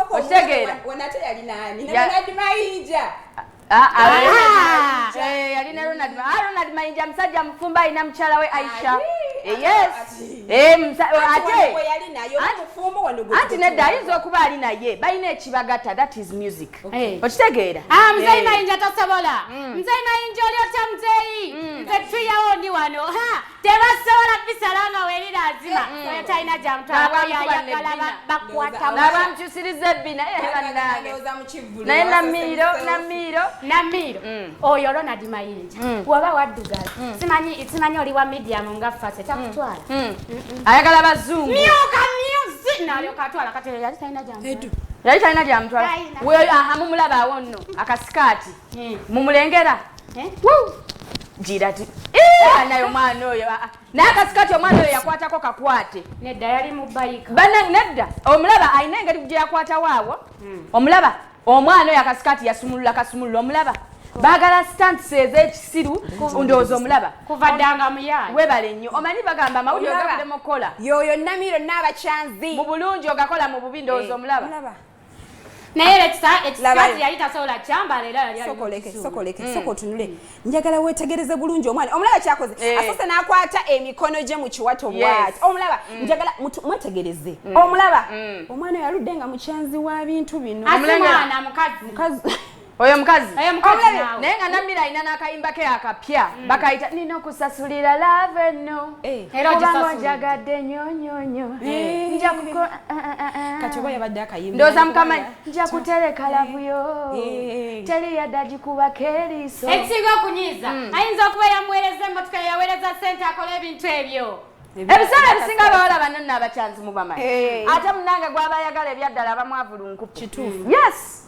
okitegeera ah, ah, ah, eh, yalina ronald ronald mayinja musajja mufumba alina mukyala we aisha eh, eh, anti nedda ayinza okuba ali naye balina ekibagata that is music okitegeera mzeyi mayinja tosobola mzeyi mm. mayinja oli otya mzeyi mm. nze tuyawo ndi wano tebasobola bisala nga werira azima mm. oyo talina gyamutwalabakwatamukyusiriza ebbina eh, naye namiiro namiiro namiiro mm. oyo ronald mayinja mm. waba waddugala simanyi oli wa mediamu nga fase takutwala ayagala bazungu myuka myuzi nalyoka atwala kati yali talina gyamutwala yali talina gyamutwala mumulabaawo nno akasikaati Eh. mumulengera eh? gira ti eh, naye omwana oyo ah, ah. nakasikati omwana oyo yakwatako kakwate nedda yali mubayika banange nedda omulaba alina engeri gye yakwatawo awo hmm. omulaba omwana oyo akasikati yasumulula kasumulula omulaba bagala stunts ezekisiru ndowooza omulaba kuva ddanga muyaye webale nnyo omanyi bagamba amawulire ogaddemu okukola yoyo namiiro naabakyanzi mu bulungi ogakola mu bubi ndowooza omulaba naye lekisa ekisikazi yali tasobola kyambala era yali sokoleke sokoleke mm. soko tunule njagala wetegereze bulungi omwana omulaba kyakoze eh. asose nakwata emikono gye mu kiwato bwati omulaba mm. njagala mwetegereze mm. omulaba omwana yaludde nga mukyanzi wa bintu bino mukazi oyo mukazi naye nga namira alina n'akayimba ke akapya mm. bakayita nina okusasulira lave no eh. kubanga njagadde nyonyonyo eh. eh, ndooza mukama nja kutereka lavuyo teri yadda gikubako eriiso ekisinga okunyiiza mm. ayinza okuba yamuweereza emotoka yaweereza sente akola ebintu ebyo ebiseera ebisinga abawala banno naabakyanzi mubamanyi ate munange gwaba ayagala ebyaddala abamwavulunkupuyes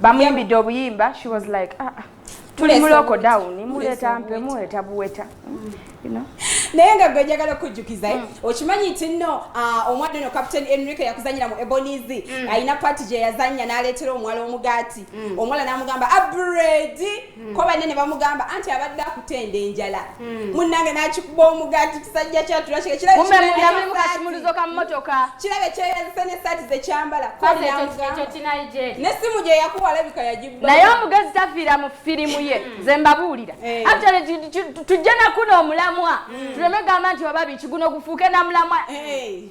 bamuyimbidde obuyimba she was like ah, ah tuli muloko down muleta mpe muleta buweta mm. naye nga gwe njagala okujjukiza eh? mm. okimanyi nti nno ah, omwana ono captain enrique yakuzanyira mu eboniz mm. alina pati gye yazannya n'aleetera omuwala omugaati omuwala n'amugamba abredi mm. ko banne ne bamugamba anti abadde akutenda enjala mm. munnange n'akikuba omugati kisajja kyatulakiramulizo ka mmotoka kirabe kyeyazise n'essaati zekyambala n'essimu gye yakuwa alabika yagibba naye omugezi tafiira mu firimu ye mm. nze mbabuulira eh. tujje nakuno omulamwa tuleme gamba nti oba biki guno gufuuke namulamwa eh.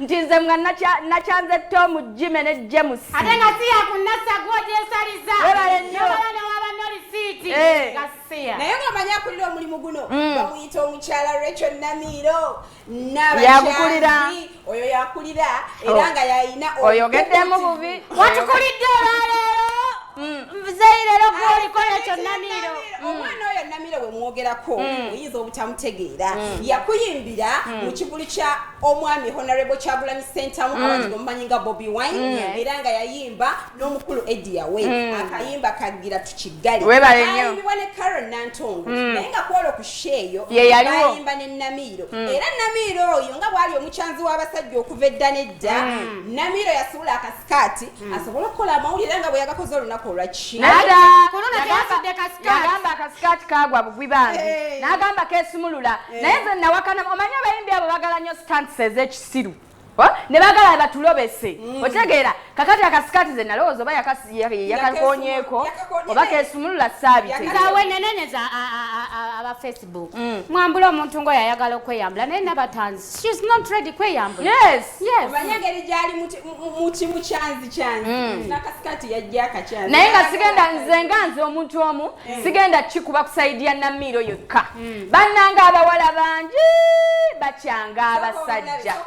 nti nze nga nakyanze tom jime ne james ate nga siya ku nassa gwogyesaliza nobala newaba nolisiiti eh. gasiya naye nga omanyi akulira omulimu guno mm. bamuyita omukyala recho namiiro nabayakulira oyo yakulira oh. era nga yayina oyogeddemu bubi watukulidde olwaleero mm. nzeyi leero gwoliko recho namiiro mm. omwana oyo namiiro wemwogerako oyinza obutamutegeera yakuyimbira mu kivulu kya omwami honorable kyagulanyi sentamu mm. abati omumanyi nga bobi wine mm. era nga yayimba n'omukulu edia we mm. akayimba kagira tukigaliayimibwa ne caron nantongo mm. naye nga kwolo ku sheeyo bayimba ne namiiro mm. era namiiro oyo nga bwali omukyanzi w'abasajja okuva edda nedda mm. namiiro yasuula akasikaati Hmm. asobole okukola amawulire nga bwe yagakoze olunaku olwakiagamba akasikaati kagwa bugwi bambi eh. n'agamba kesumulula eh. naye nze nawakana omanyi abayimbi abo bagala nnyo stantis ez'ekisiru ne bagala batulobese hmm. otegeera kakati akasikaati ze nalowooza oba yakalkonyeeko oba kesumulula saabiteaweneneneza facebook mm. mwambula omuntu ngoyo ayagala okweyambula naye nabatanzi shes not ready kweyambula yes yes omanya ngeri gyali mukimu kyanzi kyanzi mm. nakasikati yajja akakyanzi naye nga sigenda nze nga nze omuntu omu mm. sigenda kikuba kusaidi ya namiiro yokka mm. bannanga abawala bangi bakyanga abasajja so,